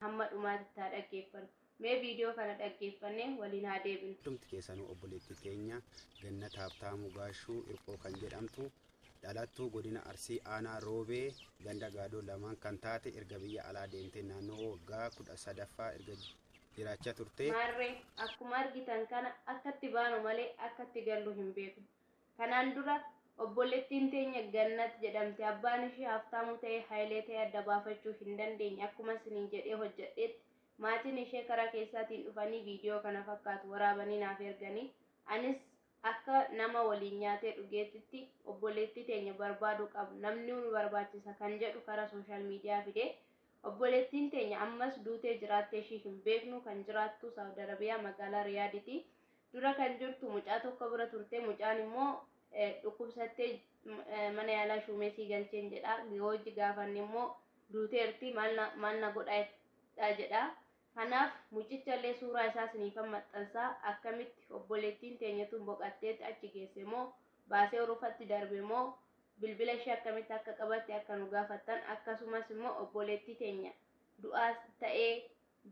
Hamma dhumaatitti haa dhaggeeffannu. Mee viidiyoo kana dhaggeeffannee waliin haa deebinu. Hundumti keessanuu obboleettii keenya Gannat Haabtaamuu Gaashuu Hirphoo kan jedhamtu dhalattuu godina Arsii aanaa Roobee ganda Gaadoo lamaan kan taate erga biyya alaa deemtee naannoo waggaa kudha sadaffaa erga jiraachaa turte. Maarree akkuma argitan kana akkatti baanu malee akkatti gallu hin beeknu. Kanaan dura obbolettiin teenya Gannat jedhamti abbaan ishee Haftaamuu ta'ee Hayilee ta'ee adda baafachuu hin dandeenye akkuma isiniin jedhee hojjadheetti maatiin ishee karaa keessaatiin dhufanii viidiyoo kana fakkaatu waraabanii naaf erganii anis akka nama waliin nyaatee dhugeetitti obboleettii teenya barbaaduu qabna namni nu barbaachisa kan jedhu karaa sooshaal miidiyaa fide obboleettiin teenya ammas duutee jiraattee ishii hin beeknu kan jiraattu saawud arabiyaa magaalaa riyaaditi Dura kan jirtu mucaa tokko bira turte. Mucaan immoo dhukkubsattee mana yaalaa shuumesii galcheen jedha. Hojii gaafanne immoo duuteerti maal na godhaa jedha. Kanaaf mucicha illee suuraa isaa siniifan maxxansa akkamitti obboleettiin teenya tun boqatteetti achi geesse moo baasee urufatti darbe moo bilbila ishee akkamitti akka qabatte akka nu gaafattan akkasumas immoo obboleettii teenya du'aa ta'ee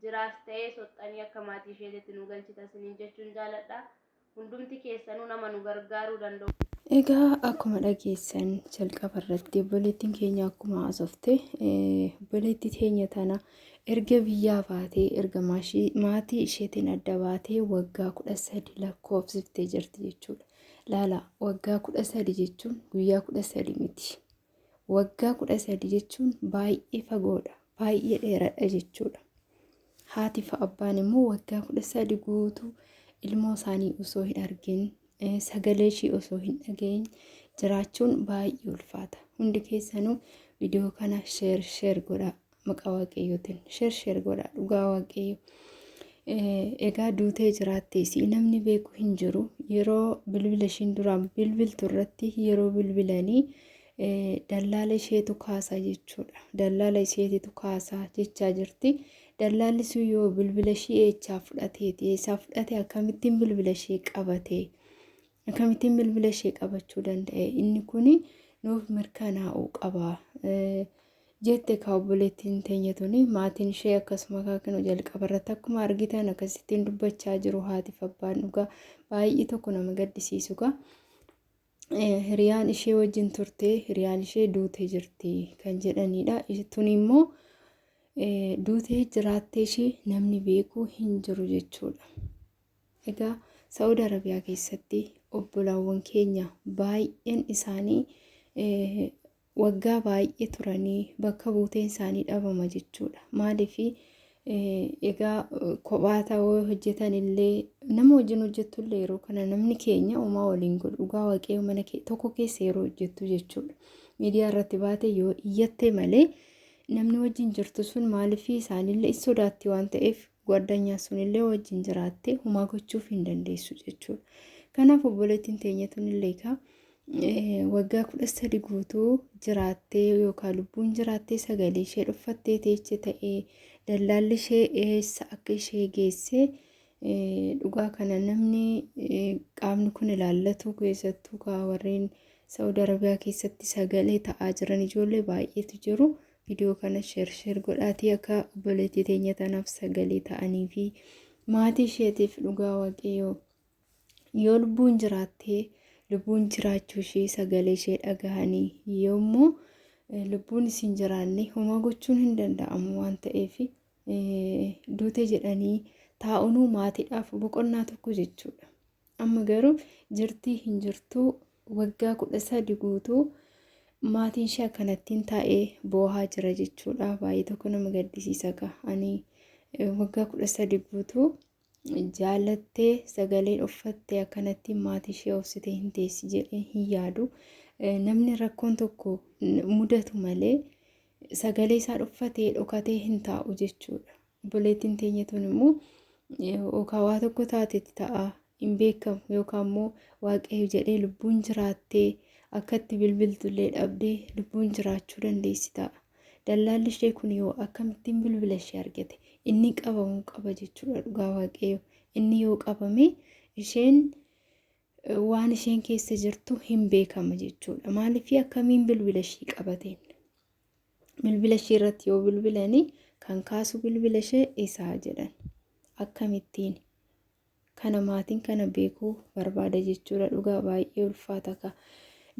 jiraas ta'ee soxxanii akka maatii isheetitti nu galchita isiniin jechuun jaaladha. Hundumti keessanuu nama nu gargaaruu danda'u. Egaa akkuma dhageessan jalqaba irratti obboleettiin keenya akkuma haasofte obboleettii teenya tana erga biyyaa baatee erga maatii isheetiin adda baatee waggaa kudha sadi lakkoofsiftee jirti jechuudha. Laala waggaa kudha sadi jechuun guyyaa kudha sadi miti. Waggaa 13 jechuun baay'ee fagoodha, baay'ee dheeradha jechuudha. Haati fi abbaan immoo waggaa 13 guutuu ilmoo isaanii osoo hin argin, eh, sagalee ishii osoo hin dhagahin jiraachuun baay'ee ulfaata. Hundi keessanuu viidiyoo kana sheer sheer godhaa. maqaa waaqayyootiin sheer sheer godhaa dhugaa waaqayyo egaa duutee jiraatte isii namni beeku hin jiru yeroo bilbila ishiin duraan bilbiltu irratti yeroo bilbilanii dallaala isheetu kaasaa jechuudha dallaala isheetitu kaasaa jechaa jirti dallaalli sun yoo bilbila ishii eechaa fudhateeti eessaa fudhate akkamittiin bilbila ishee qabate akkamittiin bilbila ishee qabachuu danda'e inni kun nuuf mirkanaa'uu qaba. jette ekaa obboleettiin teenya tuni maatiin ishee akkasuma kaakinu jalqaba irratti akkuma argitan akkasittiin dubbachaa jiru haatiif abbaan dhugaa baay'ee tokko nama gaddisiisu gaa hiriyaan ishee wajjin turtee hiriyaan ishee duutee jirti kan jedhanidha tuni immoo duutee jiraattee ishee namni beekuu hin jiru jechuudha egaa sa'uud arabiyaa keessatti obbolaawwan keenya baay'een isaanii waggaa baay'ee turanii bakka buuteen isaanii dhabama jechuudha. Maaliif egaa kophaa ta'uu hojjetan illee nama wajjin hojjettu illee yeroo kana namni keenya homaa waliin godhu dhugaa waaqayyo mana tokko keessa yeroo hojjettu jechuudha. Miidiyaa irratti baate yoo iyyattee malee namni wajjin jirtu sun maaliif isaanillee in sodaatti waan ta'eef gwaddanyaan sunillee wajjin jiraattee homaa gochuuf hin dandeessu jechuudha. Kanaaf obboleettiin teenya tunillee egaa waggaa kudha sadi guutuu jiraattee yookaan lubbuun jiraattee sagalee ishee dhuffattee teeche ta'ee dallaalli ishee eessa akka ishee geessee dhugaa kana namni qaamni kun ilaallatu keessattuu kaa warreen Saawud Arabiyaa keessatti sagalee ta'aa jiran ijoollee baay'eetu jiru. Viidiyoo kana sheer sheer godhaatii akka obboleettii teenya tanaaf sagalee ta'anii fi maatii isheetiif dhugaa waaqayyoo. Yoo lubbuun jiraattee lubbuun jiraachuu ishee sagalee ishee dhagahanii yommuu lubbuun isin jiraanne homaa gochuun hin danda'amu waan ta'eef duute jedhanii taa'unuu maatiidhaaf boqonnaa tokko jechuudha. Amma garuu jirtii hin jirtuu waggaa kudha sadi guutuu maatiin ishee akkanattiin taa'ee boohaa jira jechuudha. Baay'ee tokko nama gaddisiisa gaa ani waggaa kudha sadi guutuu Jaalattee sagaleen uffatte akkanatti maatii ishee obsitee hin teessi jedhee hin yaadu. Namni rakkoon tokko mudatu malee sagalee isaa dhuffatee dhokatee hin taa'u jechuudha. Obboleettiin teenya tun immoo yookaan waa tokko taatetti ta'a hin beekamu yookaan immoo waaqayyo jedhee lubbuun jiraattee akkatti bilbiltullee dhabdee lubbuun jiraachuu dandeessi ta'a. Dallaalli ishee kun yoo akkamittiin bilbila ishee argate inni qabamuu qaba jechuudha dhugaa waaqayyo inni yoo qabame isheen waan isheen keessa jirtu hin beekama jechuudha maaliif akkamiin bilbila ishee qabateen bilbila ishee irratti yoo bilbilanii kan kaasu bilbila ishee isaa jedhan akkamittiin kana maatiin kana beekuu barbaada jechuudha dhugaa baay'ee ulfaata ka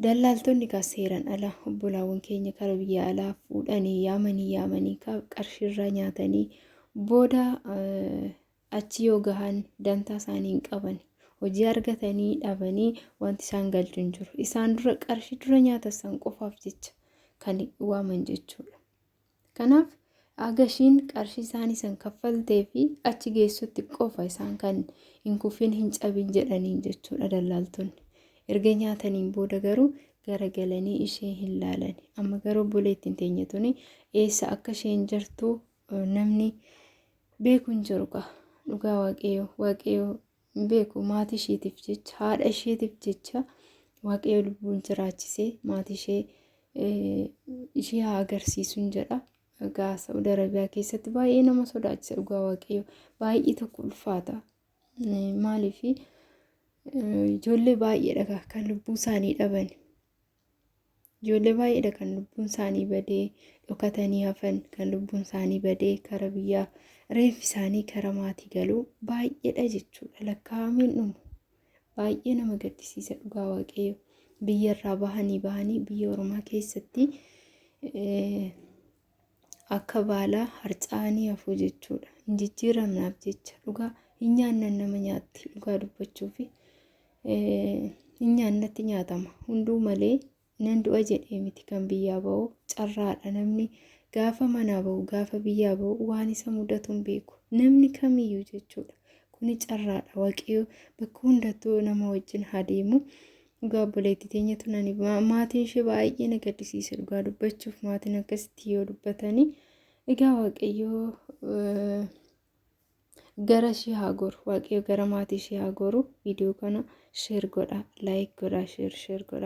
dallaaltonni ka seeran ala obbolaawwan keenya kara biyya alaa fuudhanii yaamanii yaamanii ka qarshiirraa nyaatanii booda achi yoo gahan dantaa isaanii hin qaban hojii argatanii dhabanii wanti isaan galchu hin jiru isaan dura qarshii dura nyaatan san qofaaf jecha kan waaman jechuudha. Kanaaf haga ishiin qarshii isaanii san kaffaltee fi achi geessutti qofa isaan kan hin kufin hin cabin jedhaniin jechuudha dallaaltonni. Erga nyaataniin booda garuu garagalanii ishee hin laalani. Amma garuu obboleettiin teenya tuni eessa akka isheen jirtu namni beeku hin jiru kaa. Dhugaa waaqayyoo waaqayyoo hin beeku maatii isheetiif jecha haadha isheetiif jecha waaqayyo lubbuun jiraachisee maatii ishee ishee haa agarsiisuun jedha. Egaa Saudi Arabiyaa keessatti baay'ee nama sodaachisa dhugaa waaqayyo baay'ee tokko ulfaata. Maaliif ijoollee baay'eedha kan lubbuu isaanii dhaban. Ijoollee baay'eedha kan lubbuun isaanii badee dhokatanii hafan kan lubbuun isaanii badee kara biyyaa reeffi isaanii kara maatii galuu baay'eedha jechuudha lakkaa'ameen dhumu baay'ee nama gaddisiisa dhugaa waaqayyo biyya irraa bahanii bahanii biyya oromaa keessatti akka baalaa harca'anii hafuu jechuudha. Hin jijjiiramnaaf jecha dhugaa hin nyaannan nama nyaatti dhugaa dubbachuu fi hin nyaannatti nyaatama. Hunduu malee nan du'a jedhee miti kan biyyaa ba'u carraadha namni gaafa manaa ba'u gaafa biyyaa ba'u waan isa mudatu hin beeku namni kamiyyuu jechuudha. Kuni carraadha waaqayyo bakka hundattuu nama wajjin haa deemu. Dhugaa obboleettii teenya tunani maatiin ishee baay'ee na gaddisiise dhugaa dubbachuuf maatiin akkasitti yoo dubbatanii egaa waaqayyoo gara ishee haa goru waaqayyo gara maatii ishee haa goru viidiyoo kana sheer godha laayik godha sheer sheer godha.